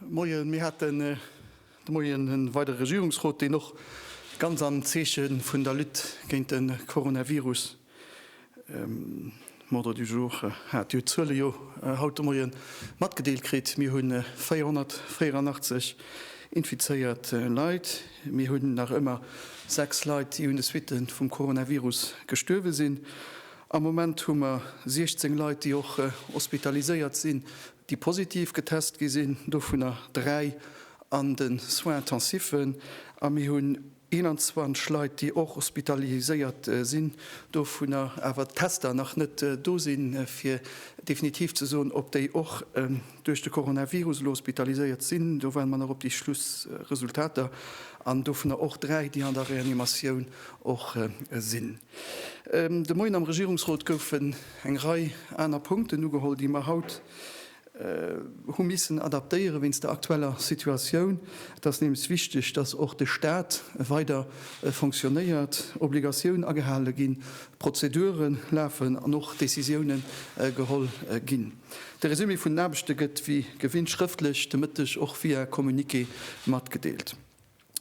Moien, mir haten de Moien en weidere Regierungsrot, deen och ganz am Zeeche vun der Lutte géint de Coronavirus um Ordre du jour hat. Dir hutt d'Zuele jo haut de Moien matgedeelt kritt. Mir hu 484 infizéiert Leit. Mir hunn nach ëmmer sechs Leit, déi un de Suitte vum Coronavirus gestuerwe sinn. Am Moment hu mer 16 Leit, déi och hospitaliséiert sinn, déi positiv getest gi sinn, dovunner dräi an de Soins intensiven. A mir hunn 21 Leit, déi och hospitaliséiert sinn, dovunner awer d'Tester nach net do sinn, fir definitiv ze soen, ob déi och duerch de Coronavirus elo hospitaliséiert sinn. Do waarde mer nach op déi Schlussresultater. An dovunner och dräi, déi an der Reanimatioun och sinn. De Moien am Regierungsrot goufen eng Rei aner Punkten ugeholl, déi mer haut hu missen adaptéieren, wéinst der aktueller Situatioun. Et ass nämlech wichteg, dass och de Stat weider fonctionnéiert, Obligatioun agehale ginn, Prozedure lafen an och Décisioune geholl ginn. De Resumé vun den Aarbechte gëtt wéi gewinnt schrëftlech de Mëtteg och via Communiqué matgedeelt.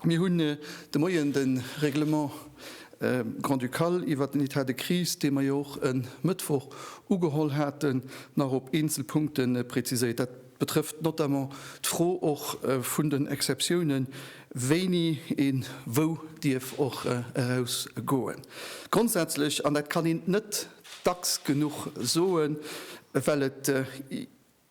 Mir hunn de Moien de Règlement grand-ducal iwwert den Etat de crise, dee mer jo och e Mëttwoch ugeholl haten, nach op eenzel Punkte präziséiert. Dat betrëfft notamment d'Fro och vun den Exceptiounen, wéini ee wou dierf och erausgoen. Grondsätzlech, an dat kann een net dacks genuch soen, well et,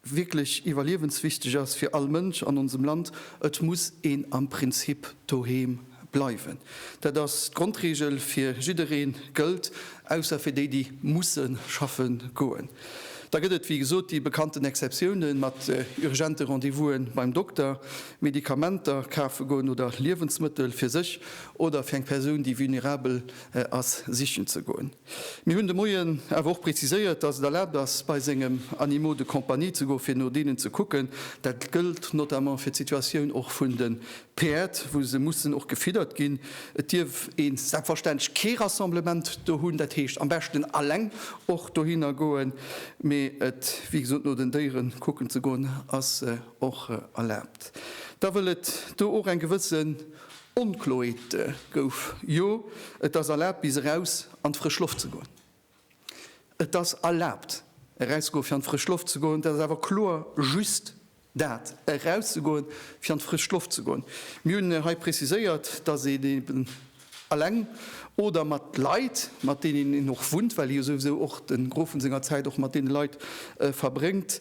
wierklech iwwerliewenswichteg ass fir all Mënsch an onsem Land, Et muss een am Prinzip doheem bleiwen. Dat ass d'Grondregel fir jiddereen, gëllt ausser fir déi, déi musse schaffe goen. Da gëtt et, wéi gesot, déi bekannten Exceptiounen, mat urgente Rendez-vouse beim Dokter, Medikamenter kafe goen oder Liewensmëttel fir sech oder fir eng Persoun, déi vulnerabel ass, sichen ze goen. Mir hunn de Moien awer och preziséiert, dass et erlaabt ass, bei sengem Animaux de compagnie ze goen, fir no deenen ze kucken. Dat gëllt notamment fir d'Situatioun och vun de Päerd, wou se mussen och gefiddert ginn. Et dierf een selbstverständlech kee Rassemblement do hunn, dat heescht am beschten alleng och dohinner goen. Mee et, wéi gesot, no den Déiere kucken ze goen, ass och erlaabt. Da wëll et do och eng gewëssen Onkloete gouf, Jo, et ass erlaabt bis eraus an d'frësch Loft ze goen. Et ass erlaabt erauszegoen fir an d'frësch Loft ze goen. Et ass awer kloer just dat, erauszegoen fir an d'frësch Loft ze goen. Mir hunn hei preziséiert, datt een eben eleng oder mat Leit, mat deenen een och wunnt, well jo souwisou och de Grofen senger Zäit och mat deene Leit verbréngt,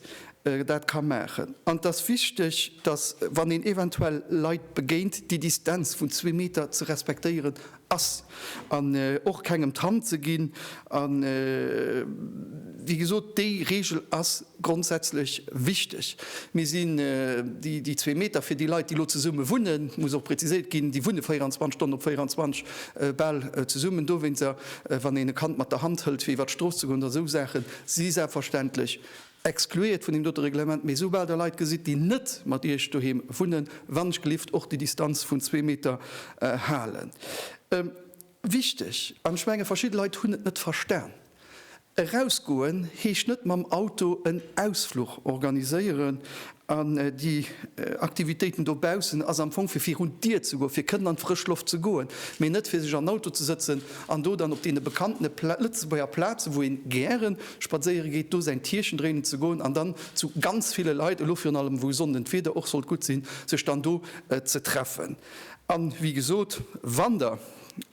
dat ka maachen. An et ass wichteg, dass, wann een eventuell Leit begéint, déi Distanz vun zwee Meter ze respektéieren ass an och kengem d'Hand ze ginn. A wéi gesot, déi Reegel ass grondsätzlech wichteg. Mir sinn, déi zwee Meter fir déi Leit, déi elo zesumme wunnen, et muss och preziséiert ginn, déi wunne 24 Stonnen op 24 bal zesummen, dowéinster, wann een e Kand mat der Hand hëlt, fir iwwert d'Strooss ze goen oder esou Saachen, si selbstverständlech Excluéiert vun deem dote Reglement, mee esoubal Der Leit gesitt, déi net mat Iech doheem wunnen, wannechgelift och déi Distanz vun zwee Meter halen. Wichteg, an ech menge verschidde Leit hunn et net verstan, Erausgoen heescht net mam Auto en Ausfluch organiséieren An déi Aktivitéiten dobaussen ass am Fong fir virun d'Dier ze goen, fir kënnen an d'frësch Loft ze goen, mee net fir sech an den Auto ze sëtzen an do dann op deene bekannten Lëtzebuerger Plazen, wou een gäre spadséiere geet, do säin Tierchen dréinen ze goen an dann zu ganz ville Leit, elo virun allem wou Sonnden d'Wieder och sollt gutt sinn, sech dann do ze treffen. An wéi gesot, wann Der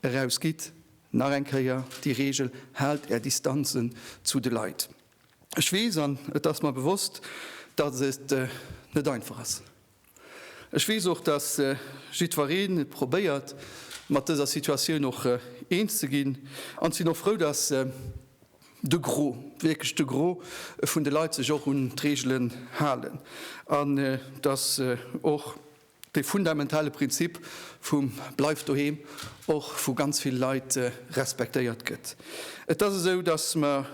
erausgitt, nach eng Kéier déi Reegel, Haalt Är Distanzen zu de Leit. Ech weess, an et ass mer bewosst, datt et net einfach ass. Ech weess och, datt jiddwereen probéiert, mat dëser Situatioun och eens ze ginn, an ech sinn och frou, datt de Gros, wierklech de Gros vun de Leit sech och un d'Reegelen halen, an datt och Dee fundamentale Prinzip vum Bleift doheem och vu ganz vill Leit respektéiert gëtt. Et ass esou, datt mer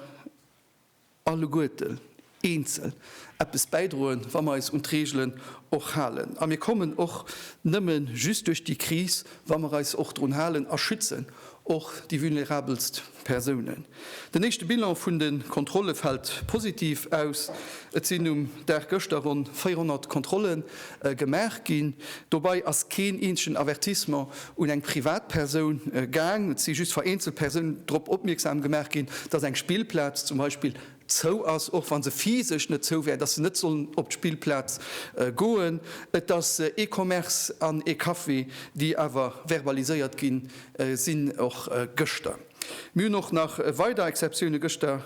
alleguerten eenzel eppes bäidroen, wa mer eis un d'Reegelen och halen. A mir kommen och nëmme just duerch déi Kris, wa mer eis och drun halen a schützen och déi vulnerabelst. Persounen. Den éischte Bilan vun de Kontrolle fält positiv aus. Et sinn um Dag gëschter ronn 400 Kontrolle gemaach ginn. Dobäi ass keen eenzegen Avertissement un eng Privatpersoun gaang. Et si just vereenzel Persounen drop opmierksam gemaach ginn, dass eng Spillplaz zum Beispill Zou ass, och wa se physesch net zou wär, dass se net sollen op d'Spillplaz goen. Et ass ee Commerce an ee Café, déi awer verbaliséiert gi sinn, och gëschter. Mir hunn och nach weider Exceptioune gëschter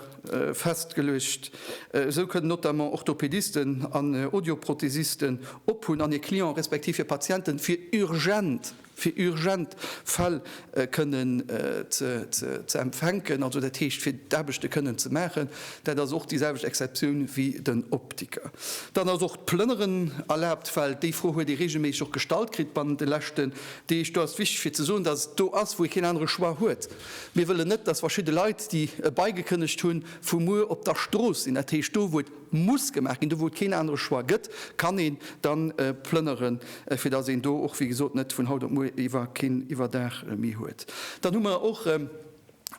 festgeluecht. Esou kënnen notamment Orthopedisten an Audioprothesisten ophunn an hir Clienten, respektiv hir Patienten, fir urgent fir urgent Fäll kënnen ze empfänken, also dat heescht fir d'Aarbechte kënnen ze maachen. Dat ass och déi selwecht Exceptioun wéi den Optiker. Dann ass och d'Plënneren erlaabt, well déi Fro huet ee reegelméisseg och gestallt kritt bannent de leschten Deeg. Do ass et wichteg fir ze soen, datt et do ass, wou ee keen anere Choix huet. Mir wëllen net, datt verschidde Leit, déi e Bail gekënnegt hunn, vu muer op der Strooss sinn, dat heescht do, wou et muss gemaach ginn, do wou et keen anere Choix gëtt, kann een da plënneren, fir datt een do och wéi gesot net vun haut op muer iwwer keen Iwwerdaach méi huet. Dann hu mer och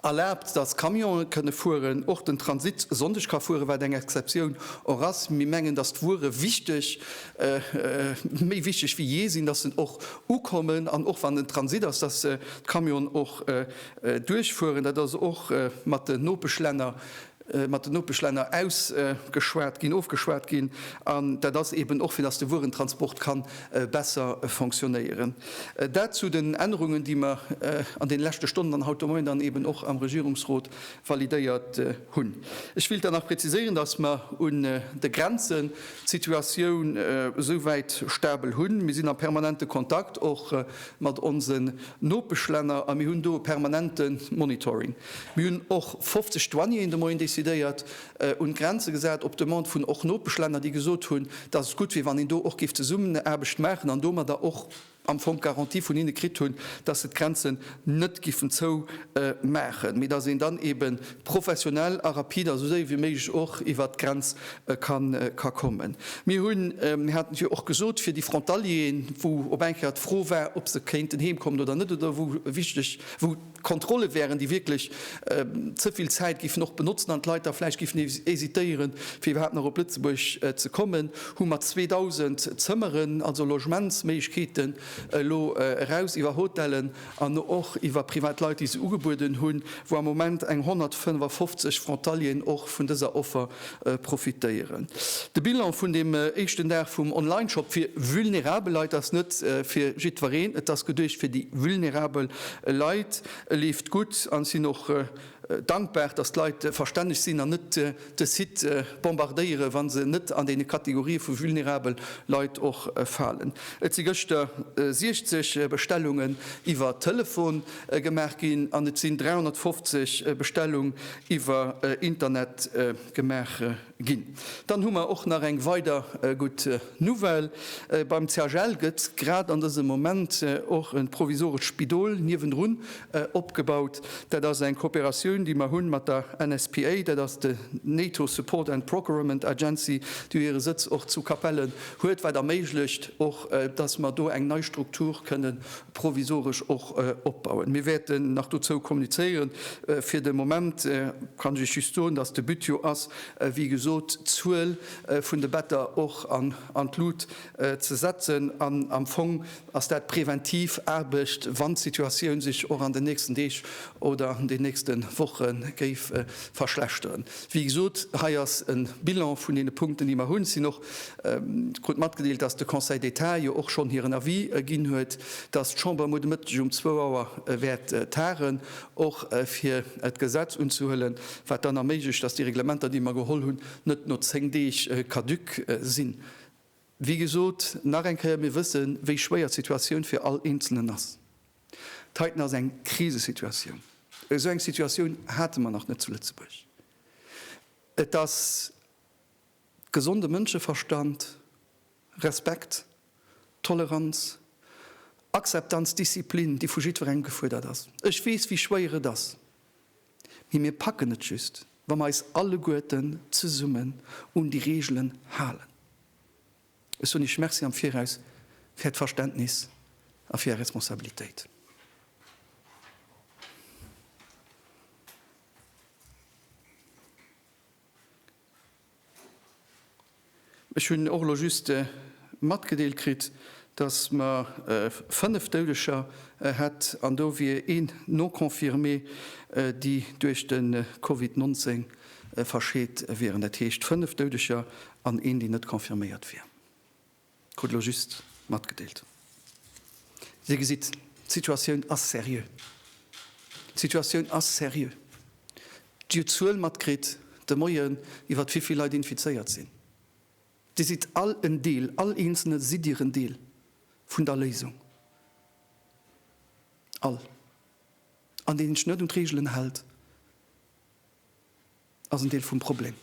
erlaabt, datt Camionen kënne fueren, och den Transit e Sonndeg ka fueren, wat eng Exceptioun och ass. Mir mengen, datt d'Wuere wichteg, méi wichteg wéi jee sinn, datt se och ukommen an och wann en Transit ass, datt d'Camionen och duerchfueren. Dat ass och mat den Nopeschlänner mat den Nopeschlänner ausgeschwat ginn, ofgeschwat ginn, an dat ass eeben och, fir dass de Wuerentransport ka besser fonctionnéieren. Dat zu den Ännerungen, déi mer an deene leschte Stonnen an haut de Moien dann eeben och am Regierungsrot validéiert hunn. Ech wéilt dann nach präziséieren, dass mer un de Grenzen d'Situatioun esouwäit stabel hunn. Mir sinn a permanente Kontakt och mat onsen Nopeschlänner a mir hunn do e permanente Monitoring. Mir hunn och 50 Douanieren de Moien decidéiert un d'Grenze gesat, op Demande vun och Nopeschlänner, déi gesot hunn, dass et gutt wier, wann een do och géif Zesummenaarbecht maachen an domadder och am Fong d'Garantie vun hinne kritt hunn, dass se d'Grenzen net giffen zoumaachen, mee dass een dann eebe professionell a rapid a sou séier wéi méiglech och iwwert d'Grenz ka kommen. Mir hunn, mir haten et jo och gesot, fir déi Frontalieren, wou op eng Kéier d'Fro war, ob se kéinten heemkommen oder net oder wou wichteg, wou. D'Kontrolle wären, déi wierklech ze vill Zäit géifen och benotzen an d'Leit da vläicht géifen hesitéieren, fir iwwerhaapt nach op Lëtzebuerg ze kommen, hu mat 2.000 Zëmmeren, also Logementsméiglechkeeten, elo eraus iwwer Hotellen an och iwwer privat Leit, déi se ugebueden hunn, wou am Moment eng 155 Frontalieren och vun dëser Offer profitéieren. De Bilan vun deem éischten Dag vum Online-Shop fir vulnerabel Leit ass net fir jiddwereen. Et ass geduecht fir déi vulnerabel Leit. E leeft gutt an ech sinn och dankbar, dass d'Leit verstänneg sinn an net de Site bombardéieren, wa se net an déi Kategorie vu vulnerabel Leit och falen. Et si gëschter 60 Bestellungen iwwer Telefon Gemaach ginn an et sinn 350 Bestellung iwwer Internet gemaach ginn. Dann hu mer och nach eng weider gutt Nouvelle, Beim CHL gëtt grad an dësem Moment och e provisorescht Spidol niewendrun opgebaut. Dat ass eng Kooperatioun, déi mer hunn mat der NSPA, dat ass de NATO Support and Procurement Agency, déi hire Sëtz och zu Capellen huet, wat erméiglecht och, dass mer do eng nei Struktur kënnen provisoresch och opbauen. Mir wäerten nach dozou kommunizéieren. Fir de Moment kann ech lech just soen, dass de But jo ass, wéi gesot, d'Zuel vun de Better och an d'Lut ze setzen. An am Fong ass dat präventiv Aarbecht, wann d'Situatioun sech och an den nächsten Deeg oder an den nächste Woche géif verschlechteren. Wéi gesot, hei ass e Bilan vun deene Punkten, déi mer hunn. krut matgedeelt, dass de Conseil d'État jo och schonn hiren Avis ginn huet, dass d'Chamber muer de Mëtteg um zwou Auer wäert tagen, och fir d'Gesetz unzehuelen, wat dann erméiglecht, dass déi Reglementer, déi mer geholl hunn, net no zéng Deeg caduc sinn. Wéi gesot, nach eng Kéier, mir wësse wéi schwéier d'Situatioun fir all Eenzelnen ass. Dat heiten ass eng Krisesituatioun. Esou eng Situatioun hate mer nach net zu Lëtzebuerg. Et ass. Gesonde Mënscheverstand, Respekt, Toleranz, Akzeptanz, Disziplin, déi vu jiddwerengem gefuerdert ass. Ech weess, wéi schwéier et ass, mee mir packen et just, wa mer eis alleguerten zesummen un déi Reegelen halen. Ech soen Iech Merci am Viraus fir Äert Verständnis a fir Är Responsabilitéit. Ech hunn och elo just matgedeelt kritt, dass mer 5 Doudeger hätt an do wier een non-confirmé, déi duerch de Covid 19 verscheet wieren. Dat heescht 5 Doudeger an een, deen net confirméiert wier. Krut elo just matgedeelt. Dir gesitt, d'Situatioun ass seriö. D'Situatioun ass seriö. Dir hutt d'Zuel matkritt de Moien, iwwert wéi vill Leit infizéiert sinn. Dir sidd all en Deel, all Eenzelne sidd Dir en Deel vun der Léisung. All. An deen sech net un d'Reegelen hält, ass en Deel vum Problem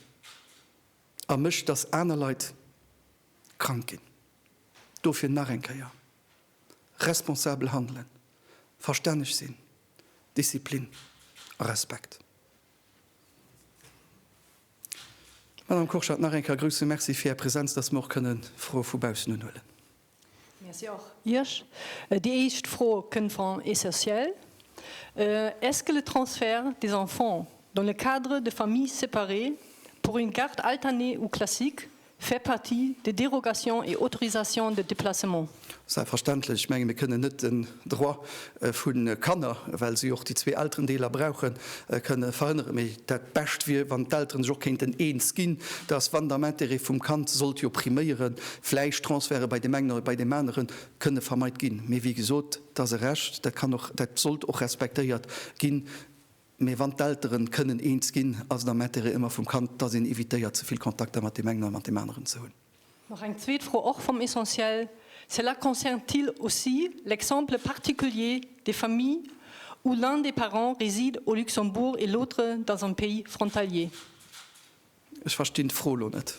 a mécht, dass aner Leit krank ginn. Dofir nach eng Kéier, responsabel handelen, verstänneg sinn, Disziplin a Respekt. Madame Kurschat, nach eng Kéier grouse Merci fir Är Präsenz, dass mer och kënne Froe vu baussen unhuelen. Merci och Iech. Déi éischt Fro kënnt van Essentiel, Est-ce que le transfert des enfants dans le cadre de familles séparées pour une garde alternée ou classique Fait partie des dérogations et autorisations de déplacement. Selbstverständlech. Ech menge mir kënnen net den Droit vu Kanner, well si och déi zwee Elterendeeler brauchen, kënnen verhënneren. Mee dat Bescht wier, wann d'Elteren sech och kéinten eens ginn, dass, wann der Intérêt vum Kand sollt jo priméieren, vläicht Transferte bei deem engen oder bei deem anere kënne vermeit ginn. Mee wéi gesot, et ass e Recht, dat kann och, dat sollt och respektéiert ginn. Mee wann d'Elteren kënnen eens ginn, ass et am Intérêt ëmmer vum Kand, dass een evitéiert ze vill Kontakter mat deem engen a mat deem aneren ze hunn. Nach eng zweet Fro, och vum Essentiel, Cela concerne-t-il aussi l'exemple particulier des familles où l'un des parents réside au Luxembourg et l'autre dans un pays frontalier? Ech verstinn d'Fro elo net.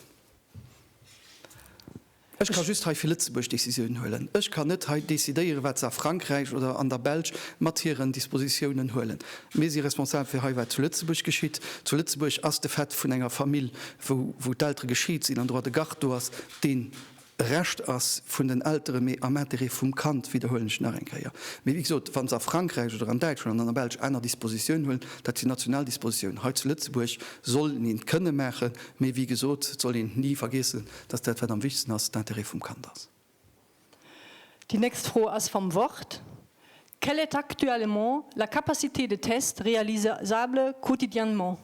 Ech ka just hei fir Lëtzebuerg Décisiounen huelen. Ech kann net hei decidéieren, wat se a Frankräich oder an der Belsch mat hiren Dispositiounen huelen. Mir si responsabel fir hei, wat zu Lëtzebuerg geschitt. Zu Lëtzebuerg ass de Fait vun enger Famill, wou d'Eltere geschiet sinn, en droit de garde do ass, deen e Recht ass vun den Eltere, mee am Interêt vum Kand, widderhuelen ech nach eng Kéier. Mee wéi gesot, wa se a Frankräich oder an Däitschland an an der Belsch aner Dispositiounen huelen, dat sinn national Dispositiounen. Hei zu Lëtzebuerg soll een et kënne maachen, mee wéi gesot, et soll een ni vergiessen, Dass dat, wat am wichtigsten ass, d'Intérêt vum Kand ass. Déi nächst Fro ass vam Wort, Quelle est actuellement la capacité de test réalisable quotidiennement?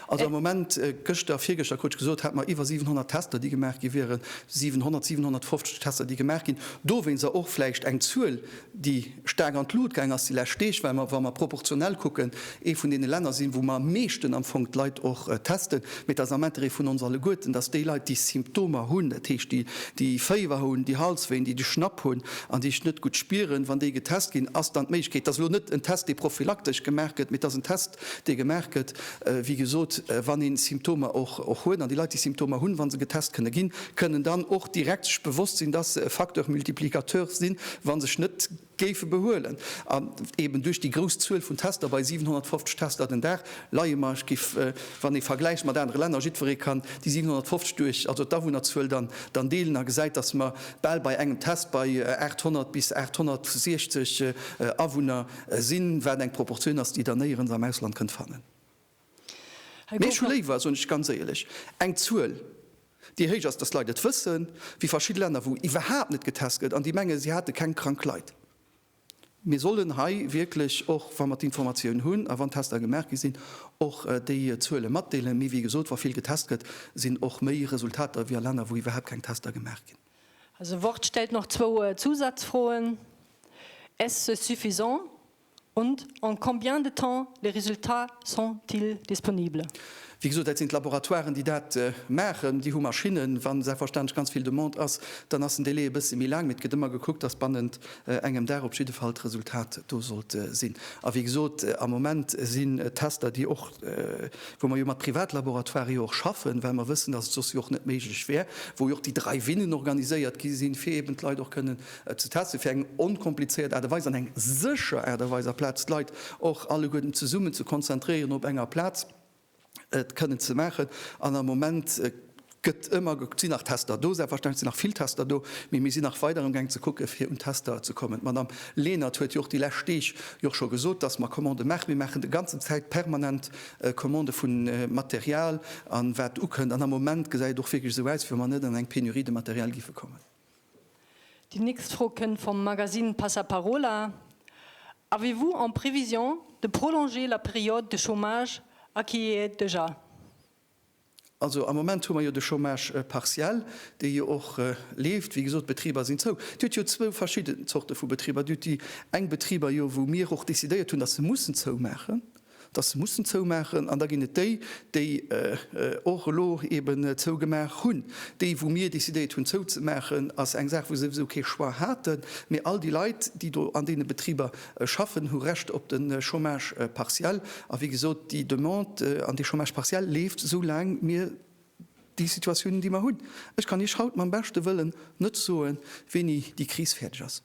Also am Moment, gëschter, virgëschter krut ech gesot, hate mer iwwer 700 Tester, déi gemaach gi wieren, 700, 750 Tester, déi gemaach ginn. Dowéinst, a och vläicht eng Zuel, déi staark an d'Lut gaang ass déi lescht Deeg, well mer, wa mer proportionell kucken, ee vun deene Länner sinn, wou mer am meeschten am Fong d'Leit och testen. Mee et ass am Interêt vun ons alleguerten, dass déi Leit, déi Symptomer hunn, dat heescht, déi, déi Féiwer hunn, déi Halswéin, déi de Schnapp hunn an déi sech net gutt spieren, wann déi getest ginn, ass dann d'Méiglechkeet, dass elo net en Test, dee prophylaktesch gemaach gëtt, mee dass en Test, dee gemaach gëtt, wéi gesot, wann ee Symptomer och huet. An déi Leit, déi Symptomer hunn, wa se getest kënne ginn, kënnen dann och direkt sech bewosst sinn, dass se e Facteur multiplicateur sinn, wa sech net géife behuelen. An eeben duerch déi grouss Zuel vun Tester, bei 750 Tester den Dag leie mer, ech géif, wann ee vergläicht mat anere Länner, jiddweree kann déi 750 duerch also d'Awunnerzuel dann deelen a gesäit, dass mer bal bei engem Test bei 800 bis 860 Awunner Sinn, wat eng Proportioun ass, déi Der néierens am Ausland kënnt fannen. Mee ech hu léiwer, soen ech ganz éierlech, eng Zuel, déi héich ass, dass d'Leit et wëssen, wéi verschidde Länner, wou iwwerhaapt net getest gëtt an déi menge si hate keng krank Leit. Mir sollen hei wierklech och, wa mer d'Informatioun hunn a wann Tester gemaach gi sinn, och déi Zuele matdeelen. Mee wéi gesot, wa vill getest gëtt, sinn och méi Resultater wéi a Länner, wou iwwerhaapt keng Tester gemaach ginn. Also Wort stellt nach zwou Zusatzfroen, Est-ce suffisant? und En combien de temps les résultats sont-ils disponibles? Wéi gesot, dat sinn d'Laboratoiren, déi dat maachen. Déi hu Maschinnen. Wa selbstverständlech ganz vill Demande ass, dann ass den Délai e bësse méi laang. Mee et gëtt ëmmer gekuckt, dass bannent engem Dag op jidde Fall d'Resultat do sollt sinn. A wéi gesot, am Moment sinn et Tester, déi och, wou mer jo mat Privatlaboratoiren jo och schaffen, well mer wëssen, datt et soss jo och net méiglech wär, wou jo och déi Drive-inen organiséiert gi sinn, fir eeben d'Leit och kënnen ze testen, fir eng onkomplizéiert Aart a Weis an eng sécher Aart a Weis, aplaz d'Leit och alleguerten zesummen ze konzentréieren op enger Plaz. et kënnen ze maachen. An am Moment gëtt ëmmer gekuckt, sinn nach Tester do? Selbstverständlech sinn nach vill Tester do, mee mir sinn nach weider amgaang ze kucken, fir un d'Tester ze kommen. D'Madame Lenert huet jo och déi lescht Deeg jo och scho gesot, dass mer Commandë maachen. Mir maachen de ganzen Zäit permanent Commandë vu Material an wat ukënnt. An am Moment gesäit et och wierklech esou aus, wéi wa mer net an eng Pénurie de matériel géife kommen. Déi nächst Fro kënnt vum Magazine Passaparola, Avez-vous en prévision de prolonger la période de chômage à qui y est déjà? Also am Moment hu mer jo de Chômage partiel, dee jo och leeft. Wéi gesot, d'Betriber sinn zou. Dir hutt jo zwou verschidden Zorte vu Betriber. Dir hutt déi eng Betriber jo, wou mir och decidéiert hunn, datt se mussen zoumaachen. datt se mussen zoumaachen, an da ginn et déi, déi och elo eben zougemaach hunn. Déi, wou mir decidéiert hunn zouzemaachen, ass eng Saach, wou se souwisou kee Choix haten, mee all déi Leit, déi do an deene Betriber schaffen, hu Recht op de Chômage partiel. A wéi gesot, déi Demande an dee Chômage partiel leeft, esou laang mir déi Situatioun hunn, déi mir hunn. Ech kann Iech haut mam beschte Wëllen net soen, wéini déi Kris fäerdeg ass.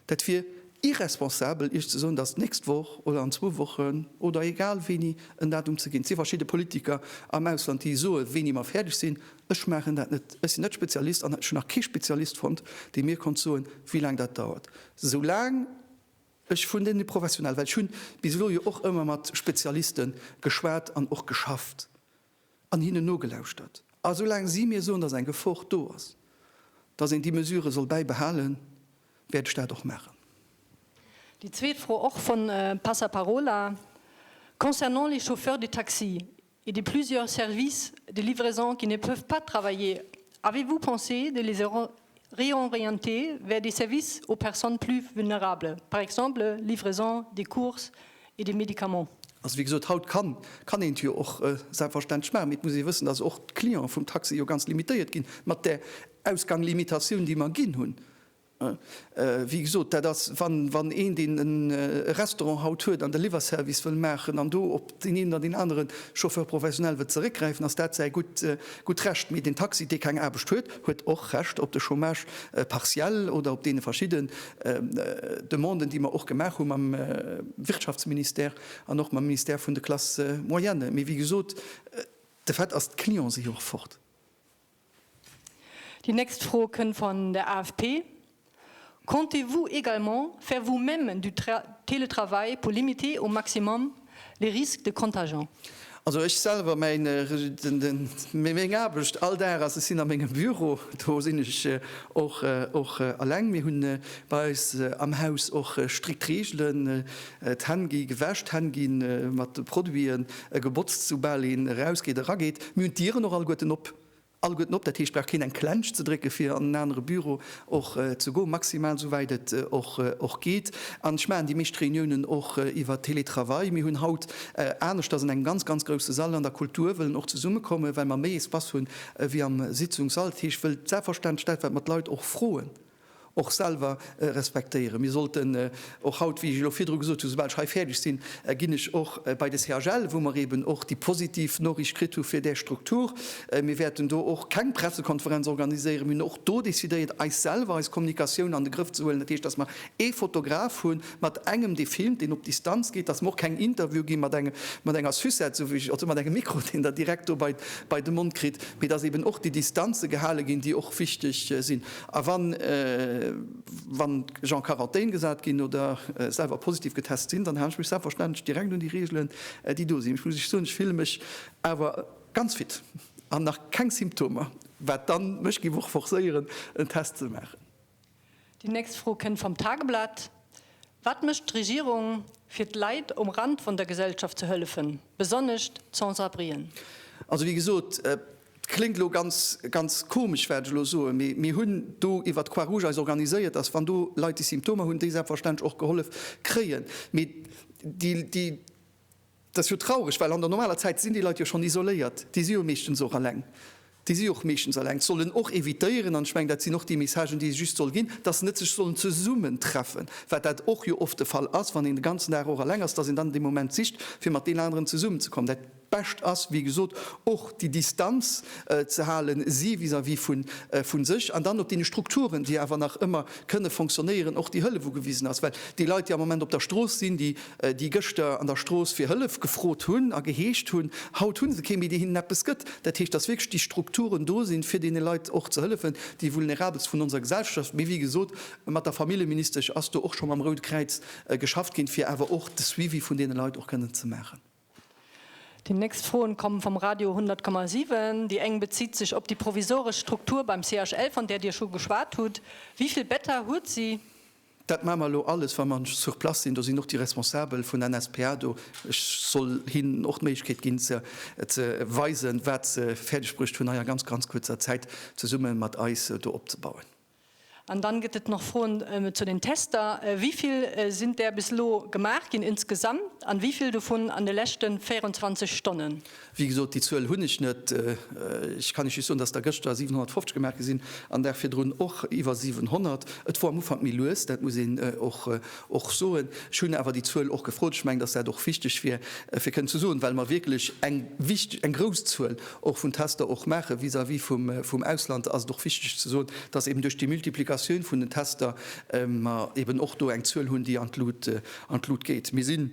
Dat wier irresponsabel Iech ze soen, datt d'nächst Woch oder an zwou Wochen oder egal wéini en Datum ze ginn. Et si verschidde Politiker am Ausland, déi soe wéini mer fäerdeg sinn. Ech maachen dat net. Ech sinn net Spezialist an ech hunn nach kee Spezialist fonnt, dee mir konnt soen, wéi laang dat dauert. Soulaang ech vun deene Professionelle, well ech hu bis elo jo och ëmmer mat Spezialiste geschwat an och geschafft, an hinnen nogelauschtert. A esou laang si mir soen, datt eng Gefor do ass, datt een déi Mesure soll bäibehalen, wäert ech dat och maachen. Déi zweet Fro, och vun Passaparola, Concernant les chauffeurs de taxi, et de plusieurs services de livraison qui ne peuvent pas travailler, avez-vous pensé de les Réorienter vers des services aux personnes plus vulnérables, par exemple livraison des courses et des médicaments. Also, wéi gesot, haut kann kann een et jo och selbstverständlech maachen, mee et muss ee wëssen, dass och d'Clienten vum Taxi jo ganz limitéiert ginn mat där Ausganglimitatiun, déi mer ginn hunn. Wéi gesot, dat ass, wann wann een, deen e Restaurant haut huet an de Liwwerservice wëll maachen an do op. Den een oder deen anere Chauffeur professionel wëllt zeréckgräifen, ass dat säi gutt Recht. Mee den Taxi, dee keng Aarbecht huet, huet och Recht op de Chômage partiel oder op deene verschidde Demanden, déi mer och gemaach hu mam Wirtschaftsministère an och mam Ministère vun de Classes moyennes. Mee wéi gesot, de Fait ass, d'Clienten si jo och fort. Déi nächst Fro kënnt van der AFP, Comptez-vous également faire vous-même du télétravail pour limiter au maximum les risques de contagion? Also ech selwer, mäin meng Aarbecht all Dag ass, ech sinn a mengem Büro, do sinn ech och och alleng. Mir hunn bei eis am Haus och strikt Reegelen, d'Hänn gi gewäsch, d'Hänn gi mat Produiten E gebotzt soubal een erausgeet, erageet. Mir hunn d'Dieren och alleguerten op. Alleguerten op, dat heescht, brauch keen eng Klensch ze drécke fir an en anere Büro och ze goen, maximal souwäit et och geet. An ech maachen déi meescht Reuniounen och iwwer Télétravail. Mir hunn haut, aneschters an engem ganz, ganz grousse Sall an der Kultur, wëllen och zesummekommen, well mer méi Espace hunn ewéi am Sitzungssall. Dat heescht, wëll d'Selbstverständlechkeet, wat mer d'Leit och froen, och selwer respektéieren. Mir sollten och haut, wéi ech elo virdru gesot hunn, esoubal ech hei fäerdeg sinn, ginn ech och bei de CHL, wou mer eeben och déi positiv Noriicht kritt hu fir där Struktur. Mir wäerten do och keng Pressekonferenz organiséieren. Mir hunn och do decidéiert, eis selwer, eis Kommunikatioun an de Grëff ze huelen. Dat heescht, datt mer ee Fotograf hu mat engem, dee filmt, deen op Distanz geet, datt mer och keng Interviewe gi mat engem, mat enger Sucette, esou wéi ech, also mat engem Mikro, deen Der direkt do bei de Mond kritt, mee datt eeben och déi Distanze gehale ginn, déi och wichteg sinn. A wann wann ech en Quarantän gesat ginn oder selwer positiv getest sinn, dann halen ech mech selbstverständlech direkt un déi Reegelen, déi do sinn. Ech muss Iech soen, ech fille mech awer ganz fit an nach keng Symptomer, wat dann mech géif och forcéieren, en Test ze maachen. Déi nächst Fro kënnt vam Tageblatt, Wat mécht d'Regierung, fir d'Leit um Rand vun der Gesellschaft ze hëllefen, besonnesch d'Sans-abrien? Also, wéi gesot, Et kléngt elo ganz, ganz komesch, wat ech elo soen, mee mir hunn do iwwert d'Croix Rouge eis organiséiert, dass, wann do Leit déi Symptomer hunn, déi selbstverständlech och gehollef kréien. Mee déi, déi, dat ass jo traureg, well an der normaler Zäit sinn déi Leit jo schonn isoléiert, déi si jo meeschtens och eleng, déi si jo och meeschtens eleng, sollen och evitéieren, an ech mengen, dat sinn och déi Messagen, déi ee just soll ginn, dass se net sech sollen zesummentreffen, wat dat och jo oft de Fall ass, wann een de ganzen Dag och eleng ass, dass een dann dee Moment sicht, fir mat deenen aneren zesummenzekommen. Dat. Bescht ass, wéi gesot, och déi Distanz ze halen, si vis-à-vis vu sech an dann op deene Strukturen, déi awer nach ëmmer kënne fonctionnéieren, och déi Hëllef ugewisen ass. Well déi Leit, déi am Moment op der Strooss sinn, déi déi gëschter an der Strooss fir Hëllef gefrot hunn a geheescht hunn, haut hu se kee méi, dee hinnen eppes gëtt. Dat heescht, datt wierklech déi Strukturen do sinn, fir deene Leit och ze hëllefen, déi Vulnerabelst vun onser Gesellschaft. Mee wéi gesot, mat der Familljeministesch ass do och scho mam Rout Kräiz geschafft ginn, fir awer och de Suivi vun deene Leit och kënnen ze maachen. Déi nächst Froen kommen vom Radio 100,7. Déi eng bezitt sech op déi provisoresch Struktur beim CHL von där Dir scho geschwat hutt. Wivill Better huet si? Dat maan mer elo alles wa mer sur place sinn. Do sinn och déi Responsabel vun NSPA do. Ech soll hinn och d'Méiglechkeet ginn ze weisen wat se fäerdeg bruecht hunn hei a ganz ganz kuerzer Zäit zesummen mat eis do opzebauen. An dann gëtt et nach Froen zu den Tester. Wéi vill sinn där bis elo gemaach ginn insgesamt an wéi vill dovun an de leschte 24 Stonnen? Wéi gesot, déi Zuel hunn ech net. Ech kann Iech just soen, dass der gëschter 750 gemaach gi sinn an Dag virdrun och iwwer 700. Et wor am Ufank méi lues, dat muss een och soen. Ech hunn awer déi Zuel och gefrot. Ech mengen, dass dat och wichteg wier fir kënnen ze soen, well mer wierklech eng grouss Zuel och vun Tester och maache vis-à-vis vum Ausland, ass et och wichteg ze soen, dass eben duerch déi Multiplikatioun vun den Tester mer eben och do eng Zuel hunn, déi an d'Lut geet. Mir si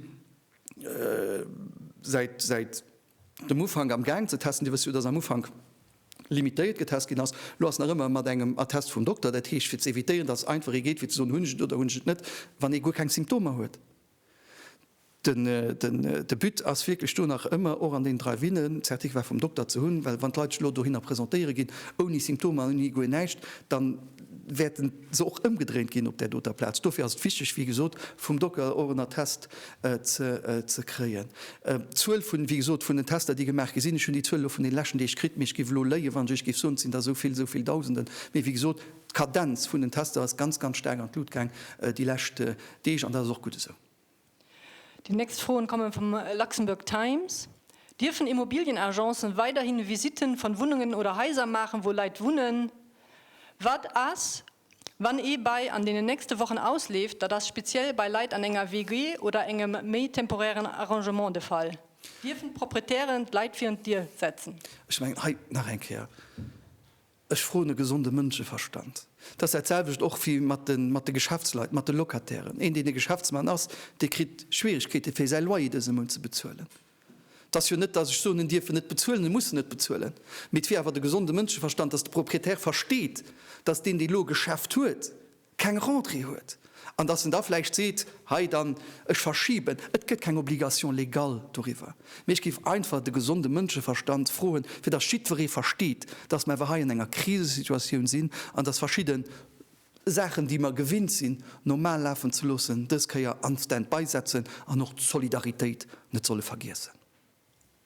säit dem Ufank am Gaang ze testen. Dir wësst jo, dass am Ufank limitéiert getest ginn ass. Elo ass nach ëmmer mat engem Attest vum Dokter, dat heescht fir ze evitéieren, dass et einfach ee geet fir ze soen, hunn ech et oder hunn ech et net, wann ee guer keng Symptomer huet. De But ass wierklech do nach ëmmer, och an den Drive-Inen, d'Certificat vum Dokter ze hunn, well wann d'Leit sech elo dohinner presentéiere ginn, ouni Symptomer, ouni guer näischt, da wäerte se och ëmgedréint ginn op där doter Plaz. Dofir ass et wichteg, wéi gesot, vum Docker och en Attest ze kréien. D'Zuel vun, wéi gesot, vun den Tester, déi gemaach gi sinn, ech hunn déi Zuel elo vun den leschten Deeg kritt, mee ech géif elo léien, wann ech Iech géif soen, et sinn der esou vill, esou vill Dausenden. Mee wéi gesot, d'Kadenz vun den Tester ass ganz, ganz staark an d'Lut gaang déi lescht Deeg, an dat ass och gutt esou. Déi nächst Froen kommen vum Luxembourg Times, Dierfen Immobilienagencen weiderhin Visiten van Wunnungen oder Haiser maachen wou Leit wunnen? Waat ass wann ee Bail an deenen nächsten Wochen ausleeft? Daat ass speziell bei Leit an enger WG oder engem méi temporären Arrangement de Fall. Dierfen d'Proprietären d'Leit virun d'Dier setzen? Ech mengen hei nach eng Kéier. Ech froen e gesonde Mënscheverstand. Et ass dat selwecht och wéi mat de, mat de Geschäftsleit, mat de Locatairen. Een, deen e Geschäftsmann ass, dee kritt Schwierigkeete fir säi Loyer dëse Mount ze bezuelen. Et ass jo net, datt ech soen, en dierf en net bezuelen, en muss en net bezuelen, mee et wier awer de gesonde Mënscheverstand, datt de Proprietär versteet, datt deen, dee lo e Geschäft huet, keng Rentrée huet an dass en da vläicht seet, hei dann, ech verschiben. Et gëtt keng Obligation légale doriwwer, mee ech géif einfach de gesonde Mënscheverstand froen, fir dass jiddweree versteet, dass mer awer hei an enger Krisesituatioun sinn an dass verschidde Saachen, déi mer gewinnt sinn normal lafen ze loossen, dës Kéier an Stand-by setzen an och d'Solidaritéit net solle vergiessen.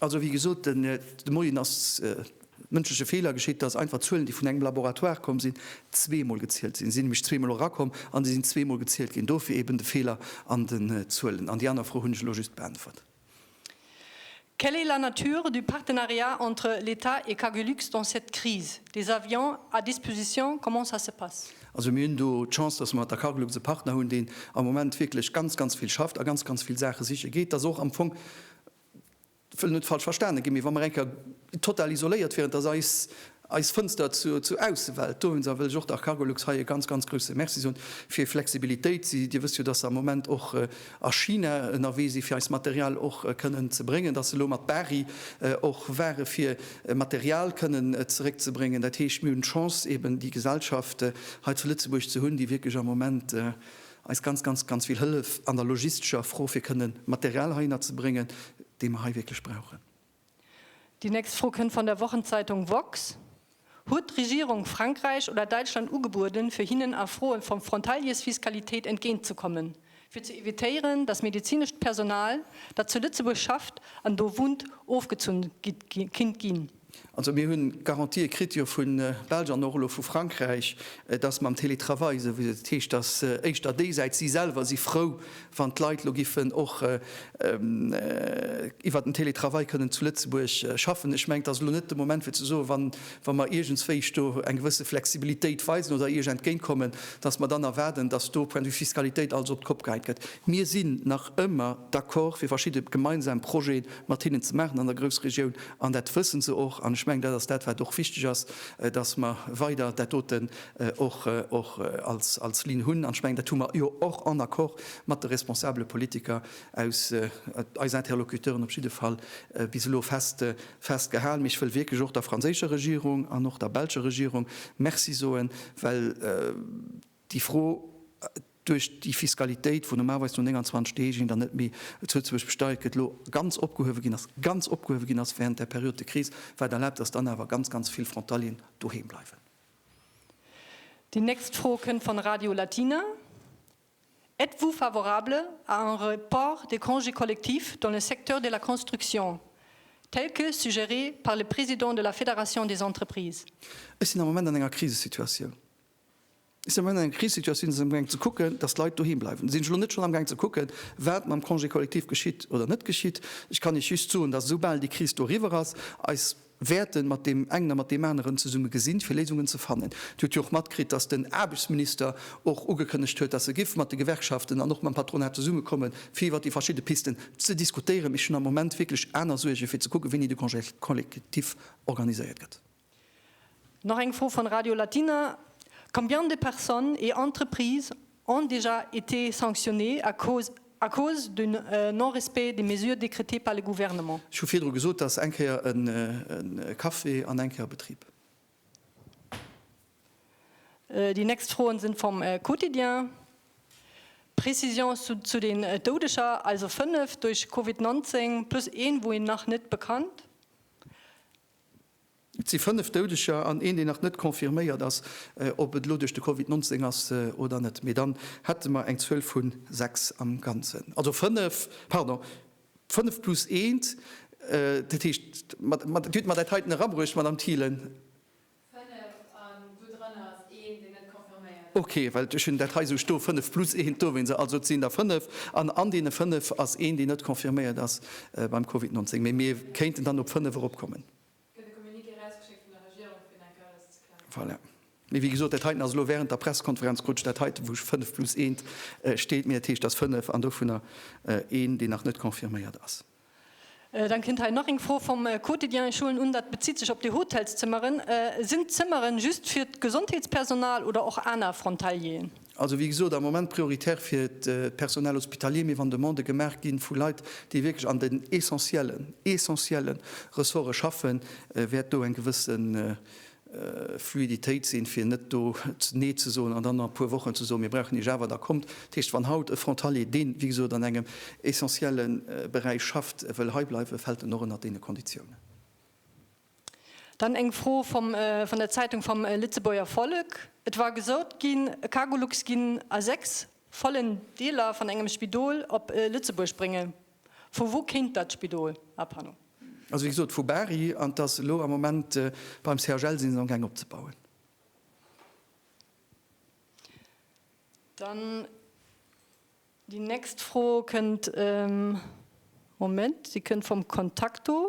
Also, wéi gesot, de Moien ass mënschleche Feeler geschitt, dass einfach Zuelen, déi vun engem Laboratoire komm sinn, zweemol gezielt sinn. Si sinn nämlech zweemol erakomm an déi sinn zweemol gezielt ginn. Dofir eeben de Feeler an den Zuelen. An déi aner Fro hunn ech elo just beäntwert. Quelle est la nature du partenariat entre l'État et Cargolux dans cette crise? Des avions à disposition, comment ça se passe? Also, mir hunn do d'Chance, dass mer mat der Cargolux e Partner hunn, deen am Moment wierklech ganz, ganz vill schafft a ganz, ganz vill Saache siche geet. Dass och am Fong wëll net falsch verstane ginn, mee wa mer eng Kéier total isoléiert wieren, dass eis eis Fënster zur Aussewelt do hunn, da wëll ech och der Cargolux hei e ganz, ganz grouse Merci soen fir hir Flexibilitéit. Si, Dir wësst jo, dass se am Moment och a China ënnerwee si fir eist Material och kënnen ze bréngen, dass se elo mat Bari och ware fir Material kënnen zeréckzebréngen. Dat heescht, mir hunn d'Chance eeben déi Gesellschaft hei zu Lëtzebuerg ze hunn, déi wierklech am Moment, eis ganz, ganz, ganz vill Hëllef an der logistescher Fro, fir kënne Material heihinner ze bréngen, dee mer hei wierklech brauchen. Déi nächst Fro kënnt van der Wochenzeitung woxx, Huet d'Regierung Frankräich oder Däitschland ugebueden, fir hinnen a Froe vu Frontaliersfiskalitéit entgéintzekommen, fir ze evitéieren, datt medezinescht Personal, dat zu Lëtzebuerg schafft an do wunnt, ofgezunn kinnt ginn? Also mir hunn Garantië kritt jo vu Belsch an och elo vu Frankräich, dass mam Télétravail, esou wéi et heescht, dass éischter déi Säit, si selwer si frou, wann d'Leit elo giffen och iwwert den Télétravail kënnen zu Lëtzebuerg schaffen. Ech mengen, et ass elo net de Moment fir ze soen, wann, wa mer iergendswéi do eng gewësse Flexibilitéit weisen oder Iech entgéint kommen, dass mer dann erwaarden, dass do Point de vue Fiskalitéit alles op d'Kopp geheit gëtt. Mir sinn nach ëmmer d'accord fir verschidde gemeinsam Projeten mat hinnen ze maachen an der Groussregioun, an dat wëssen se och. An ech mengen, dat ass dat, wat och wichteg ass, dass mer weider dat doten och als Linn hunn. An ech mengen, dat hu mer jo och en Accord mat de responsabele Politiker, eis Interlocuteuren op jidde Fall bis elo festgehalen. Mee ech wëll wierklech och der franséischer Regierung an och der belscher Regierung Merci soen, well. Déi Fro, Duerch déi Fiskalitéit, wou normalweis no 29 Deeg een dann net méi zu Lëtzebuerg besteiert gëtt, elo ganz opgehuewe ginn ass, ganz opgehuewe ginn ass während der Période de crise, wat erlaabt, dass dann awer ganz, ganz vill Frontalieren doheem bleiwen. Déi nächst Fro kënnt von Radio Latina, Êtes-vous favorable à un report des congés collectifs dans le secteur de la construction, tel que suggéré par le président de la Fédération des entreprises? Ech sinn am Moment an enger Krisesituatioun. Si am Moment an enger Krisesituatioun, si sinn am gaang ze kucken, datt d'Leit doheem bleiwen. Sinn ech elo net schonn am gaang ze kucken, wat mam Congé collectif geschitt oder net geschitt? Ech kann Iech just soen, datt esou bal déi Kris do eriwwer ass, eis wäerten mat deem engen a mat deem aneren zesumme gesinn, fir Léisungen ze fannen. Dir hutt jo och matkritt, datt den Aarbechtsminister och ugekënnegt huet, datt e giff mat de Gewerkschaften an och mam Patronat zesumme kommen, fir iwwert déi verschidde Pisten ze diskutéieren. Mee ech hunn am Moment wierklech aner Suergen, fir ze kucken, wéini de Congé collectif organiséiert gëtt. Nach eng Fro von Radio Latina, Combien de personnes et entreprises ont déjà été sanctionnées à cause à cause du non-respect des mesures décrétées par le Gouvernement? Ech hu virdru gesot, dass eng Kéier e Café an eng Kéier e Betrib. Die nächst Froen sind vom Quotidien. Précisions zu zu den Doudeger, also 5 duerch Covid 19 plus een wou een nach net bekannt. Et si 5 Doudeger an een, deen nach net confirméiert ass, ob et elo duerch de Covid 19 ass oder net. Mee dann hätte mer eng Zuel vu 6 am Ganzen. Also 5, pardon, 5 plus eent. Dat heescht, dir hutt mer dat heiten erabruecht, Madamm Thielen. Fënnef, an dodrannert ass een, deen net confirméiert ass. Ok, well ech hunn dat hei esou stoe, fënnef plus eent dowéinst. Sou, also et sinn der fënnef, an an deene fënnef ass een, deen net confirméiert ass beim Covid 19. Mee mir kéinten dann op fënnef eropkommen. Gëtt e Communiqué erausgeschéckt vun der Regierung, fir dat Ganzt ze klären? Voilà. Mee wéi gesot, dat heiten ass elo wärend der Pressekonferenz, krut ech dat heiten, wou fënnef plus eent steet. Mee dat heescht, et ass fënnef, an dovunner een, deen nach net confirméiert ass. Dann kënnt hei nach eng Fro vum Quotidien, ech huelen un dat bezitt sech op déi Hotelszëmmeren. Sinn d'Zëmmeren just fir d'Gesondheetspersonal oder och aner Frontalieren? Also wéi gesot am Moment prioritär fir d'Personal hospitalier, mee wann Demandë gemaach gi vu Leit, déi wierklech an den essentiellen, essentielle Ressorte schaffen, wäert do eng gewësse Fluiditéit sinn, fir net do Nee ze soen an dann a puer Wochen ze soen, mir brauchen ee Java, da kommt. Dat heescht, wann haut e Frontalier, deen, wéi gesot, an engem essentielle Beräich schafft, wëll heibleiwen, fält en och ënnert deene Konditiounen. Dann eng Fro vum, vun der Zeitung Vom Lützeburger Volk. Et war gesot ginn, e Cargolux ginn a sechs vollen Deeler van engem Spidol op Lëtzebuerg bréngen. Vu wou kéint dat Spidol? Ah pardon. Also wéi gesot vu Bari an et ass elo am Moment beim CHL si se am gaang opzebauen. Dann déi nächst Fro kënnt, Moment, si kënnt vum Contacto.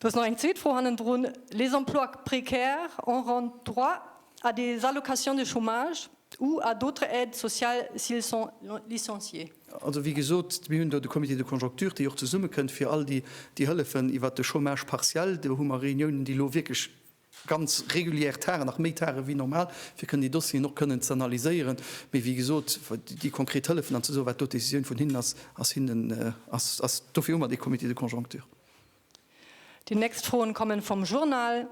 Do ass nach eng zweet Fro hannendrun. Les emplois précaires auront droit à des allocations de chômage ou à d'autres aides sociales s'ils sont licenciés? Also, wéi gesot, mir hunn do de Comité de conjoncture, déi och zesummekënnt fir all déi Hëllefen iwwert de Chômage partiel. Do hu mer Reuniounen, déi elo wierklech ganz regulier Tagë, nach méi Tagë wéi normal, fir kënnen déi Dossieren och kënnen ze analyséieren. Mee wéi gesot, déi konkret Hëllefen an ze soen, wat do d'Decisioun vun hinnen ass, ass hinnen, ass, ass, dofir hu mer dee Comité de conjoncture. Déi nächst Froen kommen vom Journal,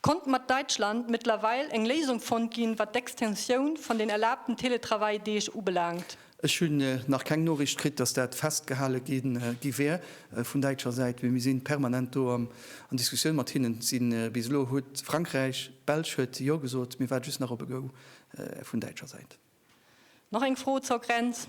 Konnt mat Deutschland mittlerweil eng Léisung fonnt ginn, wat d'Extensioun von den erlaabten Teletravail-Deeg ubelaangt? Ech hunn nach keng Noriicht kritt, dass dat festgehale gi wär vun däitscher Säit, mee mir si permanent do an Diskussioun mat hinnen. Bis elo huet Frankräich, d'Belsch huet Jo gesot, mir waarde just nach op e Go vun däitscher Säit. Nach eng Fro zur Grenz,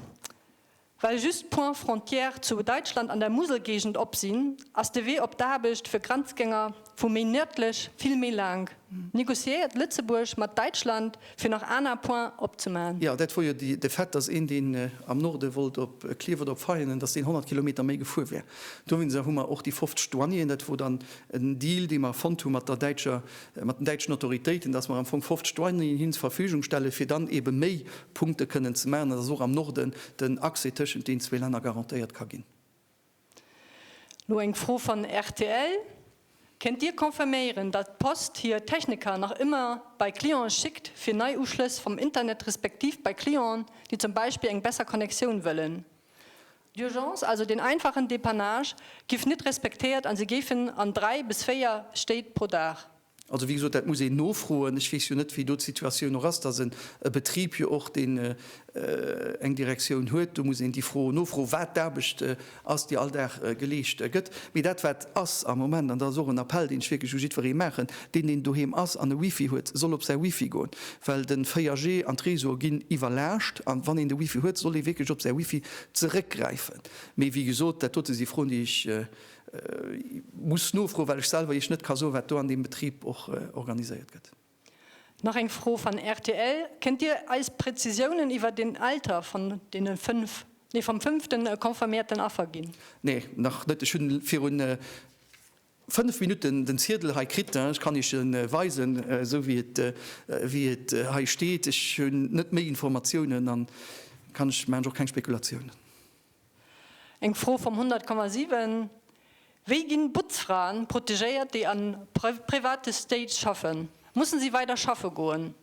Well just d'Points frontières zu Däitschland an der Muselgéigend op sinn, ass de Wee op d'Aarbecht fir Grenzgänger Vu méi nërdlech, vill méi laang. Negociéiert Lëtzebuerg mat Däitschland fir nach aner Points opzemaachen? Jo, dat wor jo de Fait, dass een deen am Norde wollt op Klierf oder op Veianen, dass deen 100 Kilometer méi gefuer wär. Dowéinser hu mer och déi 50 Douanieren, dat wor dann en Deal dee mer fonnt hu mat der däitscher, mat den däitschen Autoritéiten, dass mer am Fong 50 Douanieren hin zur Verfügung stelle fir dann eebe méi Punkte kënnen ze maachen an dass och am Norden den Accès tëschent den zwee Länner garantéiert ka ginn. Lo eng Fro van rtl, Kéint dir confirméieren dat d'Post hier Techniker nach ëmmer bei Clienten schickt fir nei Uschlëss vam Internet respektiv bei Clienten déi zum Beispill eng besser Connectioun wëllen? D'Urgence, also deen einfachen Dépannage, giff nit respektéiert an se géifen an 3 bis 4 Stéit pro Dag Also wéi gesot, dat muss een nofroen. Ech weess jo net, wéi do d'Situatioun och ass. Et ass e Betrib jo och, deen eng Direktioun huet. Do muss een déi Fro nofroen, wat d'Aarbecht ass, déi all Dag geleescht gëtt. Mee dat, wat ass am Moment, an dat ass och en Appell, deen ech wierklech u jiddweree maachen, deen, deen doheem ass an e Wifi huet, soll op säi Wifi goen. Well de 4G an d'Reseaue ginn iwwerlaascht. A wann een de Wifi huet, soll ee wierklech op säi Wifi zeréckgräifen. Mee wéi gesot, dat dote si Froen, déi ech Muss nofroen, well ech selwer Iech net ka soen, wat do an deem Betrib och organiséiert gëtt. Nach eng Fro van rtl, Kënnt Dir eis Präzisiounen iwwer den Alter van deene fënnf, nee vam fënnften confirméierten Affer ginn? Nee, nach net. Ech hunn virun fënnf Minutten den Ziedel hei kritt. Ech kann Iech en weisen, esou wéi et, wéi et hei steet. Ech hunn net méi Informatiounen an kann ech, maachen ech och keng Spekulatiounen. Eng Fro vum 100,7, Wéi ginn Butzfraen protegéiert déi an private Stage schaffen? Mussen si weider schaffe goen?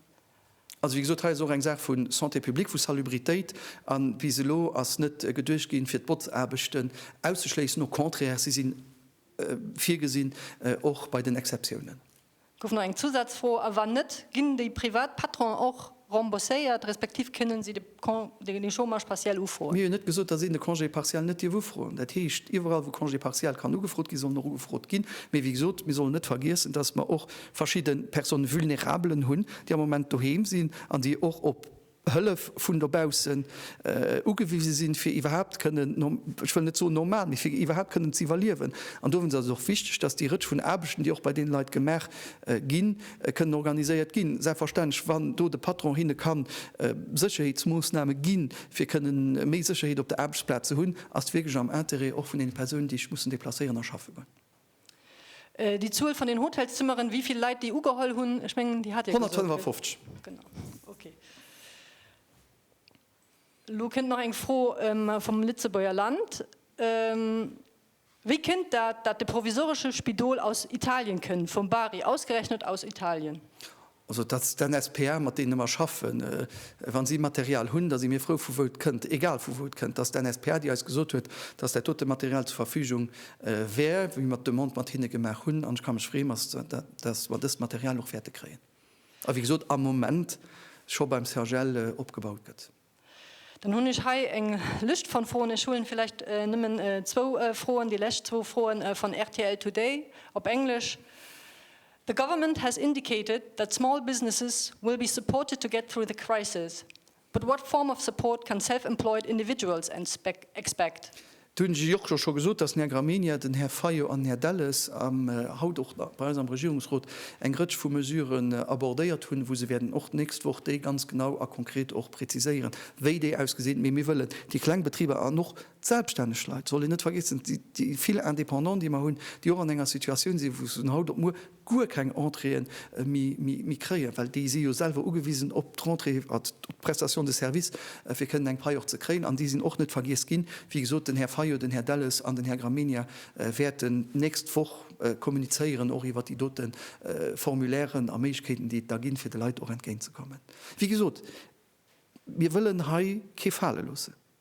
Also wéi gesot, hei ass och eng Saach vu Santé publique, vu Salubritéit, a bis elo ass net geduecht ginn, fir d'Botzaarbechten auszeschléissen, au contraire, si sinn virgesinn, och bei den Exceptiounen. Gouf nach eng Zusazfro, a wann net, ginn déi privat Patronen och rembourséiert, respektiv kënnen si de Chômage partiel ufroen? Mir hu jo net gesot, datt een de Congé partiel net dierf ufroen. Dat heescht, iwwerall wou Congé partiel kann ugefrot ginn, soll en och ugefrot ginn. Mee wéi gesot, mir sollen net vergiessen, datt mer och verschidde Personnes vulnérables hunn, déi am Moment doheem sinn an déi och op, Hëllef vun dobaussen ugewise sinn, fir iwwerhaapt kënnen, ech wëll net soen normal, mee fir iwwerhaapt kënnen ze iwwerliewen. An dowéinst ass et och wichteg, dass déi Rëtsch vun Aarbechten, déi och bei deene Leit gemaach ginn, kënnen organiséiert ginn. Selbstverständlech, wann do de Patron hinne ka Sécherheetsmoossname ginn, fir kënne méi Sécherheet op der Aarbechtsplaz ze hunn, ass et wierklech am Interêt och vun deene Persounen, déi sech mussen deplacéieren a schaffe goen. Déi Zuel vun den Hotelszëmmeren, wéi vill Leit déi ugeholl hunn, ech mengen, déi hat Dir gesot, gell? 155. Genau. Okay. Elo kënnt nach eng Fro vum Lëtzebuerger Land. Wéi kënnt dat, dat de provisoresche Spidol aus Italien kënnt, vum Bari, ausgerechnet aus Italien? Also et ass den SPA, mat deene mer schaffen. Wa si Material hunn, da si mir frou, vu wou et kënnt, egal vu wou et kënnt. Et ass den SPA, déi eis gesot huet, dass dat dote Material zur Verfügung wär, wéi mer d'Demande mat hinne gemaach hunn. An ech ka mech freeën, dass mer dëst Material och wäerte kréien a wéi gesot am Moment scho beim CHL opgebaut gëtt. Dann hunn ech hei eng Lëscht von Froen. Ech huelen villäicht nëmmen zwou Froen, déi lescht zwou Froen von rtl Today op Englesch. The government has indicated that small businesses will be supported to get through the crisis. But what form of support can self-employed individuals expect? Do hunn ech Iech och scho gesot, dass den Här Gramegna, den Här Fayot an den Här Delles haut och bei eis am Regierungsrot eng Rëtsch vu Mesuren abordéiert hunn, wou se wäerten och d'nächst Woch déi ganz genau a konkret och präziséieren, wéi déi ausgesinn. Mee mir wëllen déi kleng Betriber an och d'selbststänneg Leit, soll een net vergiessen, déi vill Indépendant, déi mer hunn, déi och an enger Situatioun sinn, wou se vun haut op muer guer keng Entréeën méi kréien, well déi si jo selwer ugewisen op d'Rentrée, op d'Prestation de service, fir kënnen eng Pai och ze kréien. An déi sinn och net vergiess ginn. Wéi gesot, den Här Fayot, den Här Delles an den Här Gramegna wäerten d'nächst Woch kommunizéieren och iwwert déi dote Formulairen a Méiglechkeeten, déi et da ginn, fir de Leit och entgéint ze kommen. Wéi gesot, mir wëllen hei kee fale loossen.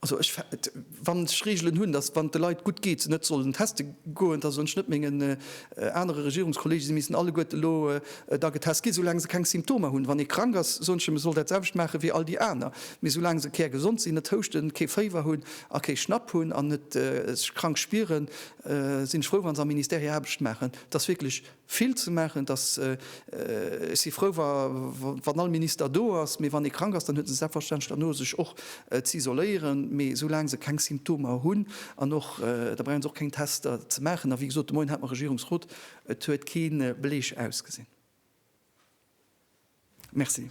Also ech, wann ech Regelen hunn, datt wann et de Leit gutt geet, se net sollen teste goen, da sollen ech net mengen anere Regierungskolleege si missten alleguerte elo da getest ginn, soulaang se keng Symptomer hunn. Wann ee krank ass, soen ech him, e soll dat selwecht maache wéi all déi aner. Mee soulaang se kärgesond sinn, net houschten, kee Féiwer hunn a kee Schnapp hunn an net sech krank spieren, sinn ech frou, wa se am Ministère hir Aarbecht maachen. Et ass wierklech. vill ze maachen, dass, ech si frou wa wann all Minister do ass, mee wann ee krank ass, dann huet en selbstverständlech derno sech och z'isoléieren, mee soulaang se keng Symptomer hunn an och, da brauche se och keng Tester ze maachen. A wéi gesot, de Moien hat mer Regierungsrot, et huet kee Beleg ausgesinn. Merci.